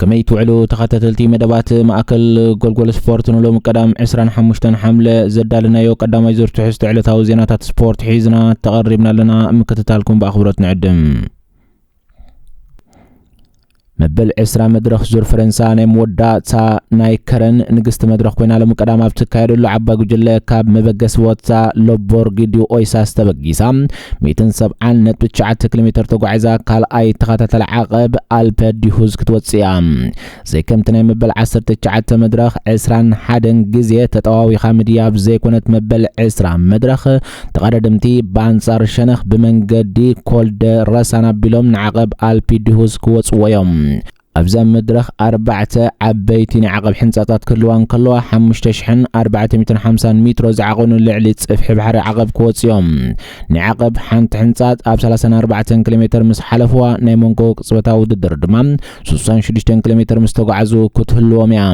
ከመይ ትውዕሉ ተኸታተልቲ መደባት ማእከል ጎልጎል ስፖርት ንሎሚ ቀዳም ዕስራን ሓሙሽተን ሓምለ ዘዳለናዮ ቀዳማይ ዙር ትሕዝቶ ዕለታዊ ዜናታት ስፖርት ሒዝና ተቐሪብና ኣለና ምክትታልኩም ብኣኽብሮት ንዕድም መበል ዕስራ መድረኽ ዙር ፈረንሳ ናይ መወዳእታ ናይ ከረን ንግስቲ መድረኽ ኮይና ሎሚ ቀዳም ኣብ ትካየደሉ ዓባይ ጉጅለ ካብ መበገሲ ወታ ሎቦርጊዲዮ ኦይሳስ ተበጊሳ ሚእትን ሰብዓን ነጥቢ ትሽዓተ ኪሎ ሜተር ተጓዒዛ ካልኣይ ተኸታታሊ ዓቐብ ኣልፐ ዲሁዝ ክትወጽእ እያ። ዘይከምቲ ናይ መበል ዓሰርተ ትሽዓተ መድረኽ ዕስራን ሓደን ግዜ ተጠዋዊኻ ምድያብ ዘይኮነት መበል ዕስራ መድረኽ ተቐዳደምቲ ብኣንጻር ሸነኽ ብመንገዲ ኮልደ ረሳን ኣቢሎም ንዓቐብ ኣልፒ ዲሁዝ ክወጽዎ እዮም። ኣብዛ መድረኽ ኣርባዕተ ዓበይቲ ናይ ዓቐብ ሕንጻጻት ክህልዋ እንከለዋ፣ ሓሙሽተ ሽሕን ኣርባዕተ ሚእትን ሓምሳን ሚትሮ ዝዓቐኑ ልዕሊ ጽፍሒ ባሕሪ ዓቐብ ክወጽኡ እዮም። ናይ ዓቐብ ሓንቲ ሕንጻጽ ኣብ ሰላሳን ኣርባዕተን ኪሎሜተር ምስ ሓለፍዋ፣ ናይ መንጎ ቅጽበታዊ ውድድር ድማ ስሳን ሽዱሽተን ኪሎሜተር ምስ ተጓዕዙ ክትህልዎም እያ።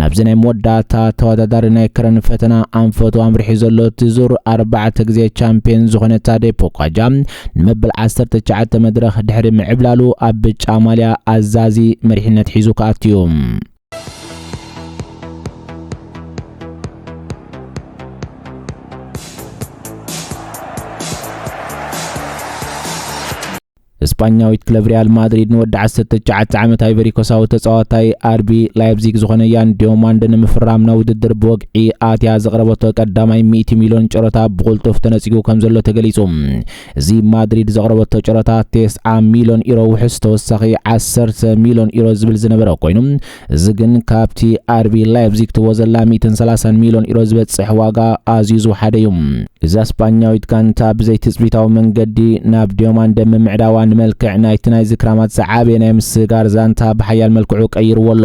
ናብዚ ናይ መወዳእታ ተወዳዳሪ ናይ ክረን ፈተና ኣንፈቱ ኣምሪሑ ዘሎ እቲ ዙር ኣርባዕተ ግዜ ቻምፒየን ዝኾነ ታዴ ፖኳጃ ንመበል ዓሰርተ ትሽዓተ መድረኽ ድሕሪ ምዕብላሉ ኣብ ብጫ ማልያ ኣዛዚ መሪሕነት ሒዙ ክኣቱ እዩ። ስጳኛዊት ክለብ ሪያል ማድሪድ ንወዲ 19 ዓመት ኣይቨሪኮሳዊ ተጻዋታይ ኣርቢ ላይፕዚግ ዝኾነ ያን ዲዮማንድ ንምፍራም ናብ ውድድር ብወግዒ ኣትያ ዘቕረበቶ ቀዳማይ 100 ሚልዮን ጨረታ ብቕልጡፍ ተነጺጉ ከም ዘሎ ተገሊጹ። እዚ ማድሪድ ዘቕረበቶ ጨረታ 90 ሚልዮን ዩሮ ውሕስ ተወሳኺ 10 ሚልዮን ዩሮ ዝብል ዝነበረ ኮይኑ እዚ ግን ካብቲ ኣርቢ ላይፕዚግ ትህቦ ዘላ ሚእትን ሰላሳን ሚልዮን ዩሮ ዝበጽሕ ዋጋ ኣዝዩ ዝወሓደ እዩ። እዛ ስጳኛዊት ጋንታ ብዘይ ትጽቢታዊ መንገዲ ናብ ዲዮማንደ ምምዕዳዋ ንመልክዕ ናይቲ ናይዚ ክራማት ዝዓበየ ናይ ምስግጋር ዛንታ ብሓያል መልክዑ ቀይርዎ ኣሎ።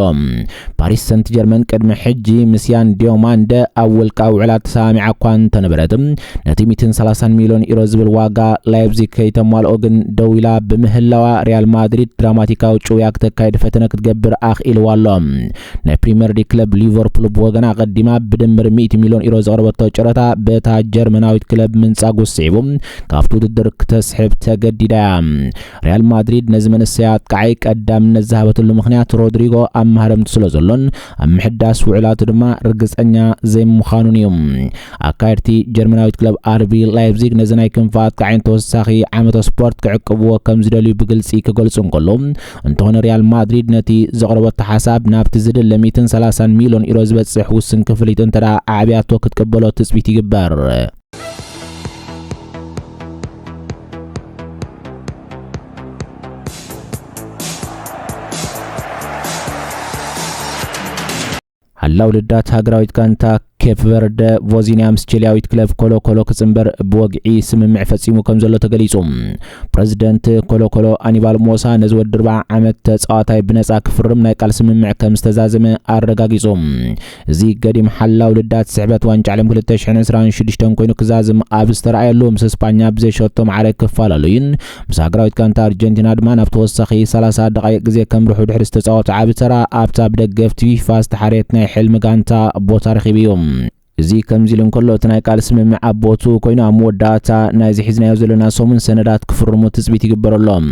ፓሪስ ሰንትጀርመን ቅድሚ ሕጂ ምስ ያን ዲዮማንደ ኣብ ውልቃዊ ውዕላት ተሰማሚዓ እኳ እንተነበረት፣ ነቲ ሚእትን ሰላሳን ሚልዮን ዩሮ ዝብል ዋጋ ላይፕዚግ ከይተማልኦ ግን ደው ኢላ ብምህላዋ ሪያል ማድሪድ ድራማቲካዊ ጭውያ ክተካይድ ፈተነ ክትገብር ኣኽኢልዋ ኣሎ። ናይ ፕሪምየር ሊግ ክለብ ሊቨርፑል ብወገና ኣቐዲማ ብድምር ሚእቲ ሚልዮን ዩሮ ዘቕረበቶ ጨረታ በታ ጀርመናዊት ክለብ ምንጻጉ ስዒቡ ካብቲ ውድድር ክተስሕብ ተገዲዳ እያ። ሪያል ማድሪድ ነዚ መንሰይ ኣጥቃዓይ ቀዳምነት ዝሃበትሉ ምኽንያት ሮድሪጎ ኣብ ማህረምቲ ስለ ዘሎን ኣብ ምሕዳስ ውዕላቱ ድማ ርግጸኛ ዘይምዃኑን እዩ። ኣካየድቲ ጀርመናዊት ክለብ ኣርቢ ላይፕዚግ ነዚ ናይ ክንፊ ኣጥቃዓይ ንተወሳኺ ዓመተ ስፖርት ክዕቅብዎ ከም ዝደልዩ ብግልጺ ክገልጹ እንከሎ እንተኾነ ሪያል ማድሪድ ነቲ ዘቕረበቶ ሓሳብ ናብቲ ዝድለ 130 ሚልዮን ዩሮ ዝበጽሕ ውስን ክፍሊት እንተደኣ ኣዕብያቶ ክትቅበሎ ትጽቢት ይግበር። ሓላው ልዳት ሃገራዊት ጋንታ ኬፕ ቨርደ ቮዚኒያ ምስ ቺልያዊት ክለብ ኮሎኮሎ ክጽንበር ብወግዒ ስምምዕ ፈጺሙ ከም ዘሎ ተገሊጹ ፕረዚደንት ኮሎኮሎ ኣኒባል ሞሳ ነዚ ወዲ ዓመት ተጻዋታይ ብነጻ ክፍርም ናይ ቃል ስምምዕ ከም ዝተዛዘመ ኣረጋጊጹ እዚ ገዲም ሓላው ልዳት ስሕበት ዋንጫ ዓለም ክልተ ሽሕን ዕስራን ሽዱሽተን ኮይኑ ክዛዝም ኣብ ዝተራእየሉ ምስ እስጳኛ ብዘይ ሸቶ ማዕረ ክፈላለዩን ምስ ሃገራዊት ጋንታ ኣርጀንቲና ድማ ናብ ተወሳኺ ሰላሳ ደቓይቕ ግዜ ከምርሑ ድሕሪ ዝተጻወቱ ዓቢ ተራ ኣብታ ብደገፍቲ ፊፋ ዝተሓርየት ናይ ሕልሚ ጋንታ ቦታ ረኺቡ እዩ። እዚ ከምዚ ኢሉ እንከሎ እቲ ናይ ቃል ስምምዕ ኣብ ቦትኡ ኮይኑ ኣብ መወዳእታ ናይዚ ሒዝናዮ ዘለና ሰሙን ሰነዳት ክፍርሙ ትጽቢት ይግበረሎም።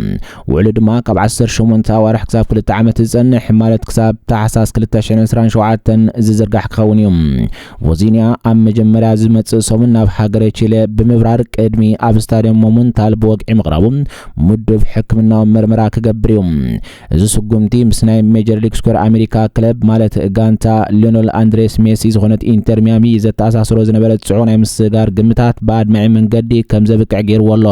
ውዕሉ ድማ ካብ ዓሰርተ ሸሞንተ ኣዋርሕ ክሳብ ክልተ ዓመት ዝጸንሕ ማለት ክሳብ ታሕሳስ ክልተ ሽሕን ዕስራን ሸውዓተን ዝዝርጋሕ ክኸውን እዩ። ቮዚንያ ኣብ መጀመርያ ዝመጽእ ሰሙን ናብ ሃገረ ቺለ ብምብራር ቅድሚ ኣብ ስታድየም ሞሙንታል ብወግዒ ምቕራቡ ምዱብ ሕክምናዊ መርመራ ክገብር እዩ። እዚ ስጉምቲ ምስ ናይ ሜጀር ሊግ ስኮር ኣሜሪካ ክለብ ማለት ጋንታ ሊዮነል ኣንድሬስ ሜሲ ዝኾነት ኢንተር ሚያሚ ዘተኣሳስሮ ዝነበረ ጽዑቕ ናይ ምስጋር ግምታት ብኣድማዒ መንገዲ ከምዘብቅዕ ገይርዎ ኣሎ።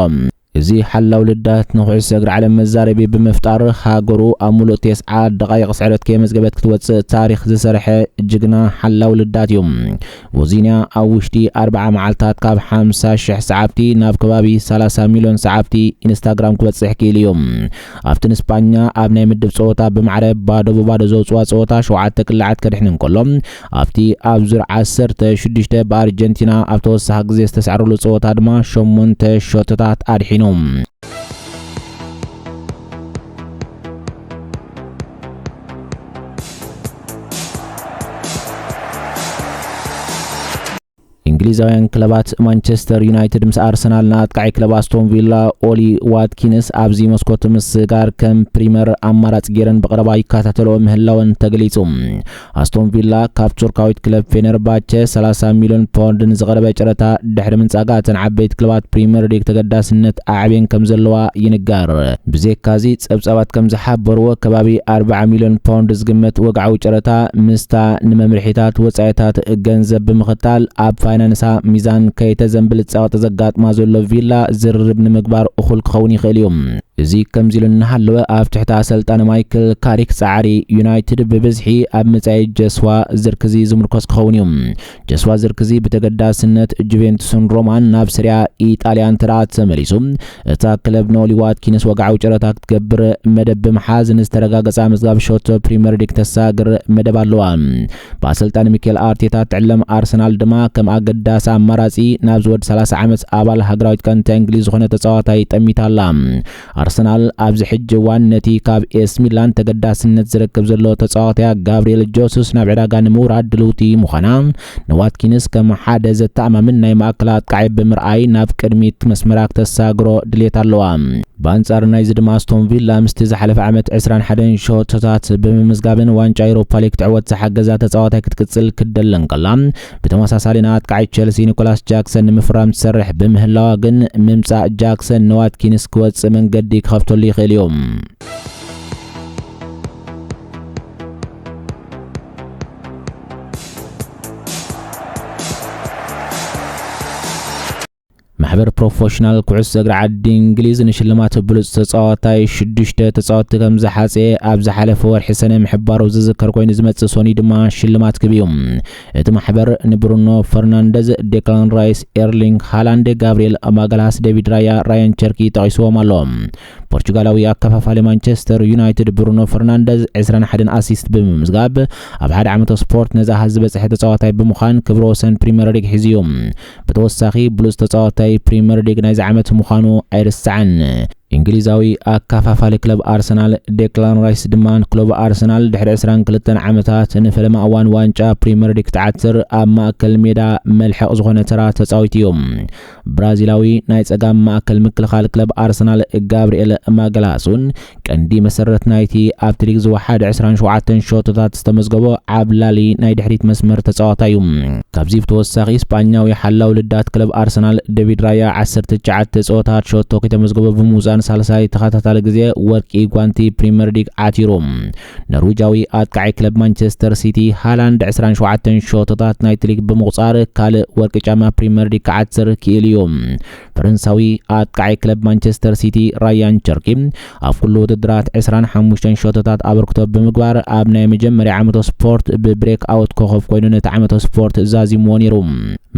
እዚ ሓላው ልዳት ንኩዕሶ እግሪ ዓለም መዛረቢ ብምፍጣር ሃገሩ ኣብ ሙሉእ ቴስዓ ደቓይቕ ስዕረት ከየመዝገበት ክትወጽእ ታሪኽ ዝሰርሐ ጅግና ሓላው ልዳት እዩ። ቮዚንያ ኣብ ውሽጢ ኣርብዓ መዓልታት ካብ ሓምሳ ሽሕ ሰዓብቲ ናብ ከባቢ ሰላሳ ሚልዮን ሰዓብቲ ኢንስታግራም ክበጽሕ ክኢሉ እዩ። ኣብቲ ንስጳኛ ኣብ ናይ ምድብ ጸወታ ብማዕረ ባዶ ብባዶ ዘውጽዋ ጸወታ ሸውዓተ ቅላዓት ከድሕን እንከሎ ኣብቲ ኣብ ዙር ዓሰርተ ሽዱሽተ ብኣርጀንቲና ኣብ ተወሳኺ ግዜ ዝተሳዕረሉ ጸወታ ድማ ሸሞንተ ሸቶታት ኣድሒኑ። እንግሊዛውያን ክለባት ማንቸስተር ዩናይትድ ምስ ኣርሰናል ንኣጥቃዒ ክለብ ኣስቶን ቪላ ኦሊ ዋትኪንስ ኣብዚ መስኮት ምስጋር ከም ፕሪመር ኣማራፂ ገይረን ብቐረባ ይከታተልኦ ምህላወን ተገሊፁ። ኣስቶን ቪላ ካብ ቱርካዊት ክለብ ፌነርባቸ 30 ሚሊዮን ፓውንድ ንዝቐረበ ጨረታ ድሕሪ ምንፃጋ እተን ዓበይቲ ክለባት ፕሪመር ሊግ ተገዳስነት ኣዕብየን ከም ዘለዋ ይንገር። ብዜካዚ ጸብጻባት ከም ዝሓበርዎ ከባቢ ኣርብዓ ሚልዮን ፖንድ ዝግመት ወግዓዊ ጨረታ ምስታ ንመምርሒታት ወጻኢታት ገንዘብ ብምኽታል ኣብ ፋይናንሳ ሚዛን ከይተዘንብል ጸቕጢ ዘጋጥማ ዘሎ ቪላ ዝርርብ ንምግባር እኹል ክኸውን ይኽእል እዩ። እዚ ከምዚ ኢሉ እናሃለወ ኣብ ትሕቲ ኣሰልጣኒ ማይክል ካሪክ ጻዕሪ ዩናይትድ ብብዝሒ ኣብ ምጻይ ጀስዋ ዝርክዚ ዝምርኮስ ክኸውን እዩ። ጀስዋ ዝርክዚ ብተገዳስነት ጁቬንቱስን ሮማን ናብ ስሪያ ኢጣልያ እንተደኣ ተመሊሱ እታ ክለብ ንኦሊ ዋትኪንስ ወግዓዊ ጨረታ ክትገብር መደብ ብምሓዝ ንዝተረጋገጸ ኣመዝጋቢ ሸቶ ፕሪምየር ሊግ ተሳግር መደብ ኣለዋ። ብኣሰልጣኒ ሚኬል ኣርቴታ እትዕለም ኣርሰናል ድማ ከም ኣገዳሲ ኣማራጺ ናብዚ ወዲ 30 ዓመት ኣባል ሃገራዊት ጋንታ እንግሊዝ ዝኾነ ተጻዋታይ ጠሚታ ኣላ። ኣርሰናል ኣብዚ ሕጂ እዋን ነቲ ካብ ኤስ ሚላን ተገዳስነት ዝረክብ ዘሎ ተጻዋታያ ጋብሪኤል ጆሱስ ናብ ዕዳጋ ንምውራድ ድልውቲ ምዃና ንዋትኪንስ ከም ሓደ ዘተኣማምን ናይ ማእከል ኣጥቃዒ ብምርኣይ ናብ ቅድሚት መስመራ ክተሳግሮ ድሌት ኣለዋ። ብኣንጻር ናይዚ ድማ ኣስቶን ቪላ ምስቲ ዝሓለፈ ዓመት ዕስራን ሓደን ሸቶታት ብምምዝጋብን ዋንጫ ኤውሮፓ ሊግ ክትዕወት ዝሓገዛ ተጻዋታይ ክትቅጽል ክትደሊ እንከላ ብተመሳሳሊ ንኣጥቃዒ ቸልሲ ኒኮላስ ጃክሰን ንምፍራም ትሰርሕ ብምህላዋ ግን ምምጻእ ጃክሰን ንዋትኪንስ ክወጽእ መንገዲ ክኸፍተሉ ይኽእል እዩ። ማሕበር ፕሮፌሽናል ኩዕሶ እግሪ ዓዲ እንግሊዝ ንሽልማት ብሉፅ ተፃዋታይ ሽዱሽተ ተፃወትቲ ከም ዝሓፀየ ኣብ ዝሓለፈ ወርሒ ሰነ ምሕባሩ ዝዝከር ኮይኑ ዝመፅእ ሶኒ ድማ ሽልማት ክብ እዩ እቲ ማሕበር ንብሩኖ ፈርናንደዝ ዴክላን ራይስ ኤርሊንግ ሃላንድ ጋብሪኤል ማጋልሃስ ዴቪድ ራያ ራያን ቸርኪ ጠቂስዎም ኣሎ ፖርቹጋላዊ ኣከፋፋሊ ማንቸስተር ዩናይትድ ብሩኖ ፈርናንደዝ 21 ኣሲስት ብምምዝጋብ ኣብ ሓደ ዓመተ ስፖርት ነዚ ኣሃዝ ዝበፅሐ ተፃዋታይ ብምዃን ክብረ ወሰን ፕሪምየር ሊግ ሒዙ እዩ ብተወሳኺ ብሉጽ ተጻዋታይ ፕሪመር ሊግ ናይዚ ዓመት ምዃኑ ኣይርሳዕን። እንግሊዛዊ ኣካፋፋሊ ክለብ ኣርሰናል ዴክላን ራይስ ድማ ክለቡ ኣርሰናል ድሕሪ ዕስራን ክልተን ዓመታት ንፈለማ እዋን ዋንጫ ፕሪመር ሊግ ክትዓትር ኣብ ማእከል ሜዳ መልሕቕ ዝኾነ ተራ ተጻዊቱ እዩ። ብራዚላዊ ናይ ጸጋም ማእከል ምክልኻል ክለብ ኣርሰናል ጋብሪኤል ማገላስ እውን ቀንዲ መሰረት ናይቲ ኣብቲ ሊግ ዝወሓደ ዕስራን ሸውዓተን ሸቶታት ዝተመዝገቦ ዓብላሊ ናይ ድሕሪት መስመር ተጻዋታይ እዩ። ካብዚ ብተወሳኺ ስጳኛዊ ሓላው ልዳት ክለብ ኣርሰናል ደቪድ ራያ ዓሰርተ ትሽዓተ ጸወታት ሸቶ ከይተመዝገቦ ብምውጻእ ንሳልሳይ ተኸታታሊ ግዜ ወርቂ ጓንቲ ፕሪመር ሊግ ዓቲሩ። ኖርዊጃዊ ኣጥቃዒ ክለብ ማንቸስተር ሲቲ ሃላንድ ዕስራን ሸውዓተን ሸቶታት ናይቲ ሊግ ብምቑጻር ካልእ ወርቂ ጫማ ፕሪመር ሊግ ክዓትር ክኢሉ እዩ። ፈረንሳዊ ኣጥቃዓይ ክለብ ማንቸስተር ሲቲ ራያን ቸርኪ ኣብ ኩሉ ውድድራት 25 ሸቶታት ኣበርክቶ ብምግባር ኣብ ናይ መጀመርያ ዓመቶ ስፖርት ብብሬክ ኣውት ኮኸብ ኮይኑ ነቲ ዓመቶ ስፖርት ዛዚምዎ ነይሩ።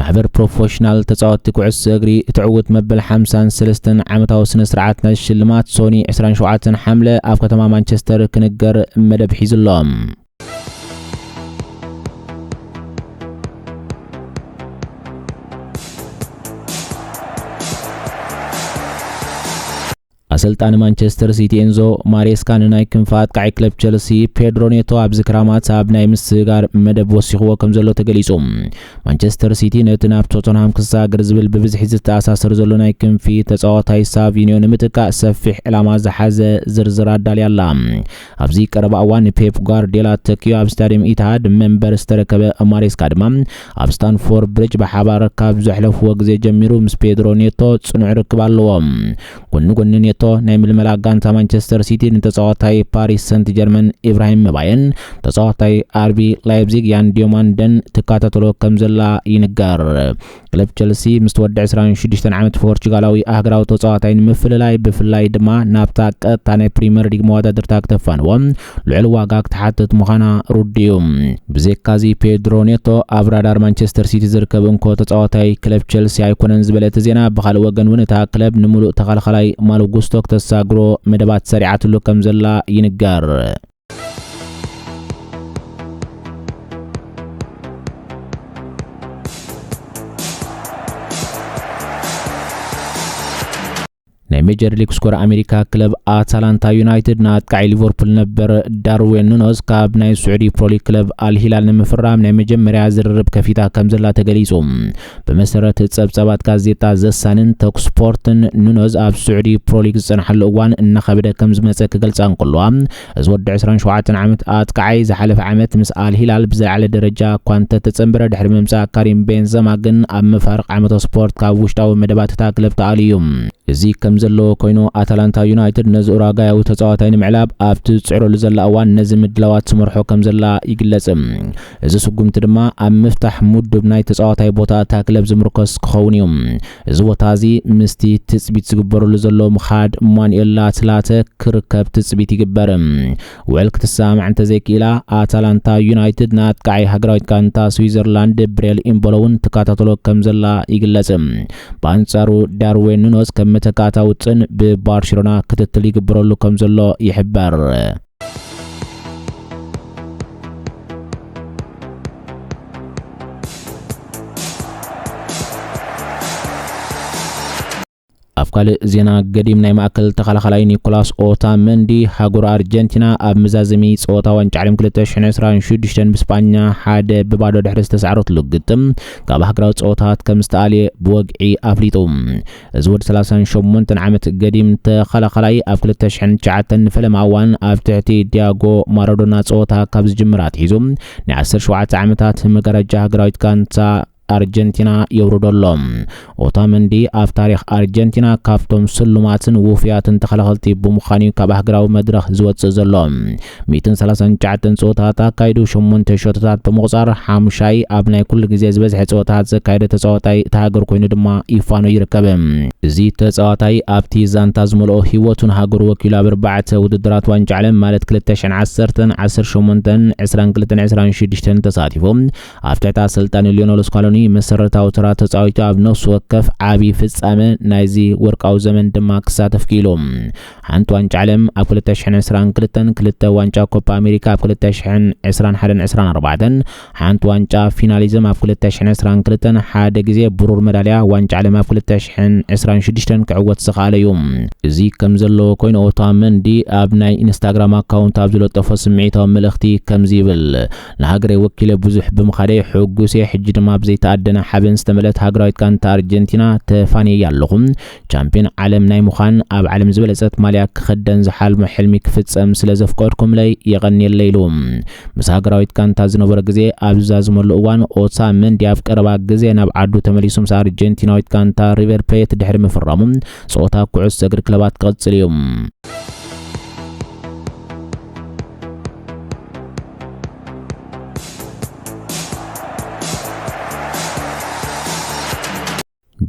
ማሕበር ፕሮፎሽናል ተጻወትቲ ኩዕሶ እግሪ እቲ ዕውት መበል 53 ዓመታዊ ስነ ስርዓት ናይ ሽልማት ሶኒ 27 ሓምለ ኣብ ከተማ ማንቸስተር ክንገር መደብ ሒዙ ኣሎ። ኣሰልጣኒ ማንቸስተር ሲቲ ኤንዞ ማሬስካ ንናይ ክንፊ ኣጥቃዒ ክለብ ቸልሲ ፔድሮ ኔቶ ኣብዚ ክራማት ኣብ ናይ ምስግጋር መደብ ወሲኽዎ ከም ዘሎ ተገሊጹ ማንቸስተር ሲቲ ነቲ ናብ ቶተንሃም ክሰጋገር ዝብል ብብዝሒ ዝተኣሳሰር ዘሎ ናይ ክንፊ ተጻዋታይ ሳቪኒዮ ንምጥቃእ ሰፊሕ ዕላማ ዝሓዘ ዝርዝር ኣዳልያ ኣላ ኣብዚ ቀረባ እዋን ንፔፕ ጓርዲዮላ ተኪኡ ኣብ ስታድየም ኢትሃድ መንበር ዝተረከበ ማሬስካ ድማ ኣብ ስታንፎርድ ብሪጅ ብሓባር ካብ ዘሕለፍዎ ግዜ ጀሚሩ ምስ ፔድሮ ኔቶ ጽኑዕ ርክብ ኣለዎ። ጎኒ ጎኒ ኔቶ ናይ ምልመላ ጋንታ ማንቸስተር ሲቲ ንተጻዋታይ ፓሪስ ሰንት ጀርመን ኢብራሂም መባየን ተጻዋታይ ኣርቢ ላይፕዚግ ያን ዲዮማንደን ትከታተሎ ከም ዘላ ይንገር። ክለብ ቸልሲ ምስ ወዲ ዕስራን ሽዱሽተን ዓመት ፖርቹጋላዊ ኣህግራዊ ተጻዋታይ ንምፍልላይ ብፍላይ ድማ ናብታ ቀጥታ ናይ ፕሪምየር ሊግ መወዳድርታ ክተፋንዎ ልዑል ዋጋ ክትሓትት ምዃና ርዱእ እዩ። ብዘይካዚ ፔድሮ ኔቶ ኣብ ራዳር ማንቸስተር ሲቲ ዝርከብ እንኮ ተጻዋታይ ክለብ ቸልሲ ኣይኮነን ዝበለ እቲ ዜና ብኻልእ ወገን እውን እታ ክለብ ንምሉእ ተኸላኻላይ ማሎ ጉስቶ ክተሳግሮ መደባት ሰሪዓትሉ ከም ዘላ ይንገር። ናይ ሜጀር ሊግ ስኮር ኣሜሪካ ክለብ ኣታላንታ ዩናይትድ ንኣጥቃዒ ሊቨርፑል ነበር ዳርዌን ኑኖስ ካብ ናይ ስዑዲ ፕሮሊግ ክለብ ኣልሂላል ንምፍራም ናይ መጀመርያ ዝርርብ ከፊታ ከም ዘላ ተገሊጹ ብመሰረት ጸብጻባት ጋዜጣ ዘ ሳንን ቶክስፖርትን፣ ኑኖዝ ኣብ ስዑዲ ፕሮ ሊግ ዝጸንሓሉ እዋን እናኸበደ ከም ዝመጸ ክገልጻ እንከለዋ፣ እዚ ወዲ ዕስራን ሸውዓተን ዓመት ኣጥቃዓይ ዝሓለፈ ዓመት ምስ ኣል ሂላል ብዝለዓለ ደረጃ እኳ እንተተጸንበረ ድሕሪ ምምጻእ ካሪም ቤንዘማ ግን ኣብ መፋርቕ ዓመተ ስፖርት ካብ ውሽጣዊ መደባት እታ ክለብ ተኣልዩ። እዚ ከም ዘለዎ ኮይኑ ኣታላንታ ዩናይትድ ነዚ ኡራጋያዊ ተጻዋታይ ንምዕላብ ኣብቲ ትጽዕረሉ ዘላ እዋን ነዚ ምድላዋት ትመርሖ ከም ዘላ ይግለጽ። እዚ ስጉምቲ ድማ ኣብ ምፍታሕ ሙዱብ ናይ ተጻዋታይ ቦታ እታ ክለብ ዝምርኮስ ክኸውን እዩ። እዚ ቦታ እዚ ምስቲ ትጽቢት ዝግበረሉ ዘሎ ምኻድ ማኑኤል ላትላተ ክርከብ ትጽቢት ይግበር። ውዕል ክትሰማማዕ እንተዘይክኢላ ኣታላንታ ዩናይትድ ንኣጥቃዓይ ሃገራዊት ጋንታ ስዊዘርላንድ ብሬል ኢምቦሎ እውን ትከታተሎ ከምዘላ ይግለጽ። ብኣንጻሩ ዳርዌን ኑኖዝ ከም መተካእታ ውጥን ብባርሸሎና ክትትል ይግበረሉ ከምዘሎ ይሕበር። ኣብ ካልእ ዜና ገዲም ናይ ማእከል ተኸላኻላይ ኒኮላስ ኦታ መንዲ ሃገሩ ኣርጀንቲና ኣብ መዛዘሚ ጸወታ ዋንጫ ዓለም 2026 ብስጳኛ ሓደ ብባዶ ድሕሪ ዝተሳዕረትሉ ግጥም ካብ ሃገራዊ ጸወታት ከም ዝተኣልየ ብወግዒ ኣፍሊጡ። እዚ ወዲ ሰላሳን ሸሞንተን ዓመት ገዲም ተኸላኻላይ ኣብ ክልተ ሽሕን ትሽዓተን ንፈለማ እዋን ኣብ ትሕቲ ዲያጎ ማራዶና ጸወታ ካብ ዝጅምር ኣትሒዙ ናይ ዓሰርተ ሸውዓተ ዓመታት ንመጋረጃ ሃገራዊት ጋንታ ኣርጀንቲና የውርዶ ኣሎ። ኦታመንዲ ኣብ ታሪኽ ኣርጀንቲና ካብቶም ስሉማትን ውፉያትን ተኸላኸልቲ ብምዃን እዩ ካብ ሃገራዊ መድረኽ ዝወጽእ ዘሎ። ሚእትን ሰላሳን ትሽዓተን ጸወታታት ኣካይዱ ሸሞንተ ሸቶታት ብምቑጻር ሓሙሻይ ኣብ ናይ ኩሉ ግዜ ዝበዝሐ ጸወታታት ዘካየደ ተጻዋታይ እታ ሃገር ኮይኑ ድማ ይፋኖ ይርከብ። እዚ ተጻዋታይ ኣብቲ ዛንታ ዝመልኦ ህይወቱ ንሃገሩ ወኪሉ ኣብ ኣርባዕተ ውድድራት ዋንጫ ዓለም ማለት ክልተ ሽሕን ዓሰርተን፣ ዓሰርተ ሸሞንተን፣ ዕስራን ክልተን ዕስራን ሽዱሽተን ተሳቲፉ ኣብ ትሕቲ ኣሰልጣኒ ሊዮነል ስካሎኒ መሰረታዊ ተራ ተጻዊቱ ኣብ ነፍሲ ወከፍ ዓቢ ፍጻመ ናይዚ ወርቃዊ ዘመን ድማ ክሳተፍ ክኢሉ። ሓንቲ ዋንጫ ዓለም ኣብ ክልተ ሽሕን ዕስራን ክልተን፣ ክልተ ዋንጫ ኮፓ ኣሜሪካ ኣብ ክልተ ሽሕን ዕስራን ሓደን ዕስራን ኣርባዕተን፣ ሓንቲ ዋንጫ ፊናሊዝም ኣብ ክልተ ሽሕን ዕስራን ክልተን፣ ሓደ ግዜ ብሩር መዳልያ ዋንጫ ዓለም ኣብ ክልተ ሽሕን ዕስራን ሽዱሽተን ክዕወት ዝኸኣለ እዩ። እዚ ከም ዘለዎ ኮይኑ ኦታመንዲ ኣብ ናይ ኢንስታግራም ኣካውንት ኣብ ዝለጠፎ ስምዒታዊ መልእኽቲ ከምዚ ይብል፣ ንሃገረይ ወኪለ ብዙሕ ብምኻደይ ሕጉስ እየ፣ ሕጂ ድማ ብዘይተኣደነ ሓበን ዝተመልእት ሃገራዊት ጋንታ ኣርጀንቲና ተፋንየያ ኣለኹ። ቻምፕዮን ዓለም ናይ ምዃን ኣብ ዓለም ዝበለጸት ማልያ ክኽደን ዝሓልሞ ሕልሚ ክፍጸም ስለ ዘፍቀድኩምለይ የቐንየለይ ኢሉ። ምስ ሃገራዊት ጋንታ ዝነበሮ ግዜ ኣብ ዝዛዝመሉ እዋን ኦታ መንዲ ኣብ ቀረባ ግዜ ናብ ዓዱ ተመሊሱ ምስ ኣርጀንቲናዊት ጋንታ ሪቨር ፕሌት ድሕሪ ምፍራሙ ጸወታ ኩዕሶ እግሪ ክለባት ክቕጽል እዩ።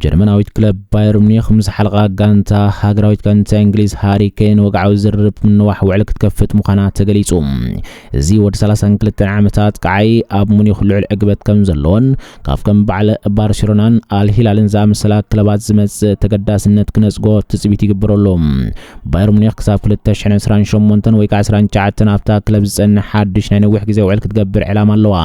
ጀርመናዊት ክለብ ባየር ሙኒክ ምስ ሓልቓ ጋንታ ሃገራዊት ጋንታ እንግሊዝ ሃሪ ኬን ወግዓዊ ዝርርብ ምንዋሕ ውዕል ክትከፍት ምዃና ተገሊጹ። እዚ ወዲ 32 ዓመታት ቀዓይ ኣብ ሙኒክ ልዑል ዕግበት ከም ዘለዎን ካብ ከም በዓል ባርሴሎናን ኣልሂላልን ዝኣመሰላ ክለባት ዝመጽእ ተገዳስነት ክነጽጎ ትጽቢት ይግበረሉ። ባየር ሙኒክ ክሳብ 2028 ወይ ከዓ 29 ኣብታ ክለብ ዝፀንሕ ሓድሽ ናይ ነዊሕ ግዜ ውዕል ክትገብር ዕላማ ኣለዋ።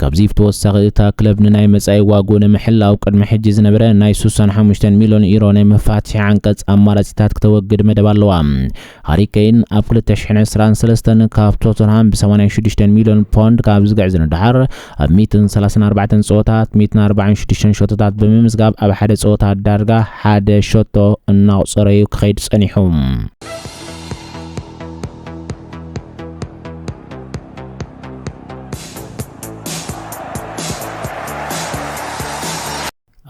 ካብዚ ብተወሳኺ እታ ክለብ ንናይ መፃኢ ዋግኡ ንምሕላው ቅድሚ ሕጂ ዝነበረ ናይ 65 ሚሊዮን ዩሮ ናይ መፋትሒ ዓንቀፅ ኣማራፂታት ክተወግድ መደብ ኣለዋ። ሃሪ ኬን ኣብ 2023 ካብ ቶተንሃም ብ86 ሚሊዮን ፖንድ ካብ ዝግዕዝ ንደሓር ኣብ ሚእትን ሰላሳን ኣርባዕተን ጸወታት ሚእትን ኣርባዓን ሽዱሽተን ሸቶታት ብምምዝጋብ ኣብ ሓደ ጸወታ ዳርጋ ሓደ ሸቶ እናቑጸረ'ዩ ክኸይድ ጸኒሑ።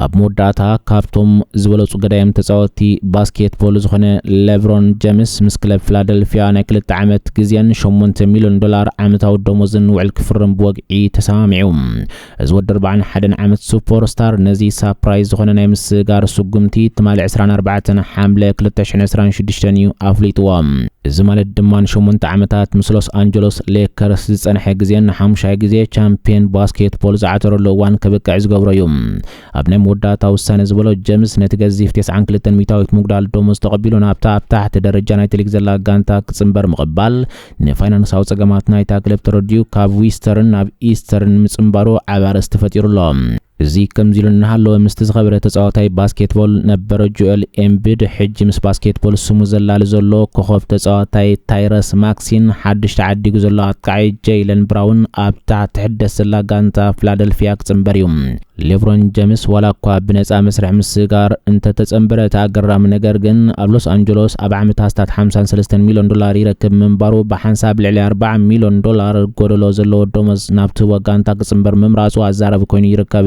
ኣብ መወዳእታ ካብቶም ዝበለጹ ገዳይም ተጻወትቲ ባስኬት ቦል ዝኾነ ለብሮን ጀምስ ምስ ክለብ ፊላደልፊያ ናይ ክልተ ዓመት ግዜን ሸሞንተ ሚልዮን ዶላር ዓመታዊ ደሞዝን ውዕል ክፍርም ብወግዒ ተሰማሚዑ። እዚ ወዲ ኣርብዓን ሓደን ዓመት ሱፖር ስታር ነዚ ሳፕራይዝ ዝኾነ ናይ ምስግጋር ስጉምቲ ትማሊ ዕስራን ኣርባዕተን ሓምለ ክልተ ሽሕን ዕስራን ሽዱሽተን እዩ ኣፍሊጥዎ። እዚ ማለት ድማ ንሸሞንተ ዓመታት ምስ ሎስ ኣንጀሎስ ሌከርስ ዝጸንሐ ግዜ ንሓሙሻይ ግዜ ቻምፕየን ባስኬትቦል ዝዓተረሉ እዋን ከብቅዕ ዝገብሮ እዩ። ኣብ ናይ መወዳእታ ውሳነ ዝበሎ ጀምስ ነቲ ገዚፍ ቴስዓን ክልተን ሚታዊት ምጉዳል ደሞዝ ተቐቢሉ ናብታ ኣብ ታሕቲ ደረጃ ናይቲ ሊግ ዘላ ጋንታ ክጽንበር ምቕባል ንፋይናንሳዊ ጸገማት ናይታ ክለብ ተረዲኡ ካብ ዊስተርን ናብ ኢስተርን ምጽንባሩ ዓቢ ኣርእስቲ ፈጢሩ ኣሎ። እዚ ከምዚ ኢሉ እናሃለወ ምስቲ ዝኸበረ ተጻዋታይ ባስኬትቦል ነበር ጆኤል ኤምቢድ ሕጂ ምስ ባስኬትቦል ስሙ ዘላሊ ዘሎ ኮኾብ ተጻዋታይ ታይረስ ማክሲን ሓድሽ ተዓዲጉ ዘሎ ኣጥቃዒ ጀይለን ብራውን ኣብታ ትሕደስ ዘላ ጋንታ ፍላደልፊያ ክጽንበር እዩ። ሌብሮን ጀምስ ዋላ እኳ ብነጻ መስርሕ ምስጋር እንተተጸንበረ እቲ ኣገራሚ ነገር ግን ኣብ ሎስ ኣንጀሎስ ኣብ ዓመት ኣስታት 53 ሚልዮን ዶላር ይረክብ ምንባሩ ብሓንሳብ ልዕሊ 40 ሚልዮን ዶላር ጎደሎ ዘለዎ ደሞዝ ናብቲ ወጋንታ ምምራጽ እምበር ምምራጹ ኣዛራቢ ኮይኑ ይርከብ።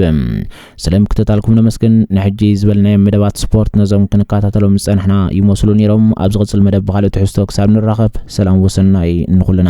ስለ ምክትታልኩም ነመስግን። ንሕጂ ዝበልናዮም መደባት ስፖርት ነዞም ክንከታተሎም ዝጸናሕና ይመስሉ ነይሮም። ኣብ ዝቕጽል መደብ ብኻልእ ትሕዝቶ ክሳብ ንራኸብ ሰላም ወሰናይ ንኹልና።